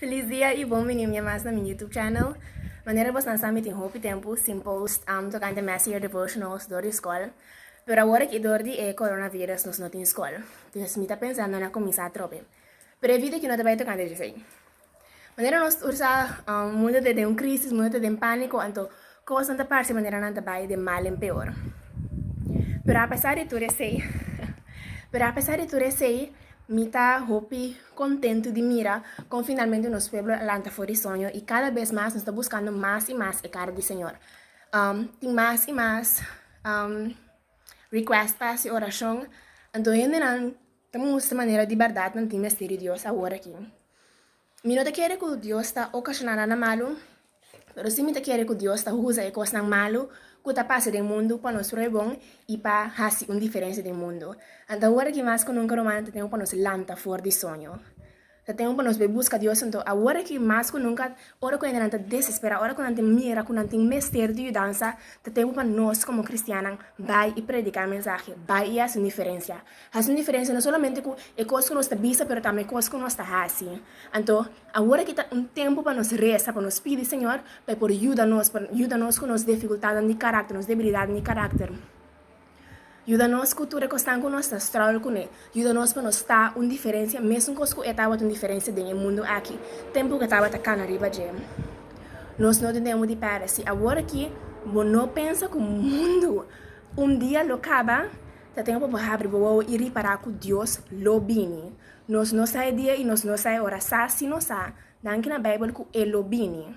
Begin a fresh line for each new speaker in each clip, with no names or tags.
Feliz dia y bon bini un bia mas na mi YouTube channel. Manera bosnan sa mi tin hopi tempu sin post um tocante Mass Year Devotionals dor di scol. Pero awor aki dor di e coronavirus nos no tin scol. Dus mi ta pensando na cuminsa atrobe. Pero e video aquí no ta bay tocante di esey. Manera nos tur sa um, mundo ta den un crisis, mundo ta den panico, anto Kosnan ta parse manera nan ta bai de mal en peor. Pero apesar di tur esei, pero apesar di tur esei, mi ta hopi kontentu di mira kon finalmente nos pueblo a lanta for di soño i kada bes mas nos ta buskando mas i mas e kara di Señor. Um, tin mas i mas um, request pa hasi orashon, anto hendenan ta mustra manera di bardad nan tin mester di Dios awor aki. Mi no ta kere ku Dios ta okashona nan na malu, pero si mi ta kere ku Dios ta huza e kosnan malu ku ta pasa den mundu pa nos roi bon i pa hasi un diferensia den mundu. Anto awor aki mas ku nunka rumannan ta tempu pa nos lanta for di soño. Ta tempu pa nos bai buska Dios anto awor aki mas ku nunka ora ku hendenan ta desesperá, ora ku nan ta mira ku nan tin mester di yudansa, ta tempu pa nos komo kristiannan bai i prediká e mensahe, bai i hasi un diferensia. Hasi un diferensia no solamente ku e kos ku nos ta bisa, pero tambe e kos ku nos ta hasi. Anto, awor aki ta un tempu pa nos resa, pa nos pidi Señor pa e por yuda nos, pa yuda nos ku nos difikultatnan di karakter, nos debilidatnan di karakter. Yuda nos ku tur e kosnan ku nos ta struggle kuné. Yuda nos pa nos ta un diferensia, mesunkos ku e tabata un diferensia den e mundu aki, tempu ku e tabata kana riba dje. Nos no tin tempu di pèrdè. Si awor aki bo no pensa ku mundu un dia lo kaba, Ta tempu pa bo habri bo wowo i ripará ku Dios lo bini. Nos no sa e dia i nos no sa e ora sa, si nos sa, nan kina Beibel ku E lo bini.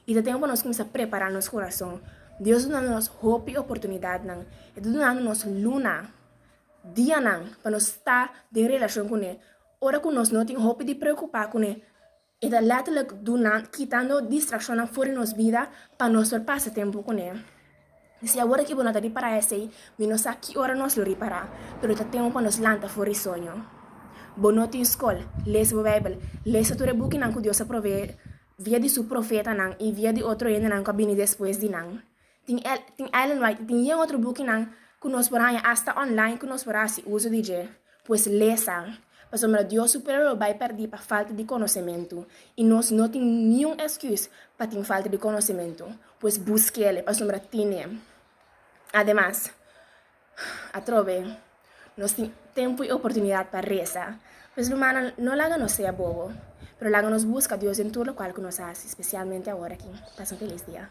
I ta tempu pa nos kuminsá prepará nos kurason. Dios dunandu nos hopi oportunidatnan. E ta dunandu nos luna, dianan pa nos sta den relashon kuné, ora ku nos no tin hopi di preokupá kuné. E ta letterlijk duna, kitando distraccionnan for di nos bida pa nos por pasa tempo cu ne. Si awor aki bo no ta ripara esey, mi no sa ki ora nos lo ripara, pero ta tempo pa nos lanta for di soño. Bo no tin scol? Lesa bo Bijbel. Lesa tur e bukinan cu Dios a provee via di su profetanan y via di otro hendenan cu a bini despues di nan. Tin el, tin Ellen White i tin yen otro bukinan ku nos por haña asta online ku nos por hasi uso di dje. Pues lesa, pasobra Dios su pueblo lo bai pèrdí pa falta di konosementu, i nos no tin niun èsküs pa tin falta di konosementu. Pues busk'E, pasobra tin'E. Ademas, atrobe, nos tin tempu i oportunidat pa resa. Pues rumannan, no laga nos sea bobo, pero laga nos buska Dios den tur lokual ku nos hasi, spesialmente awor aki. Pasa un felis dia.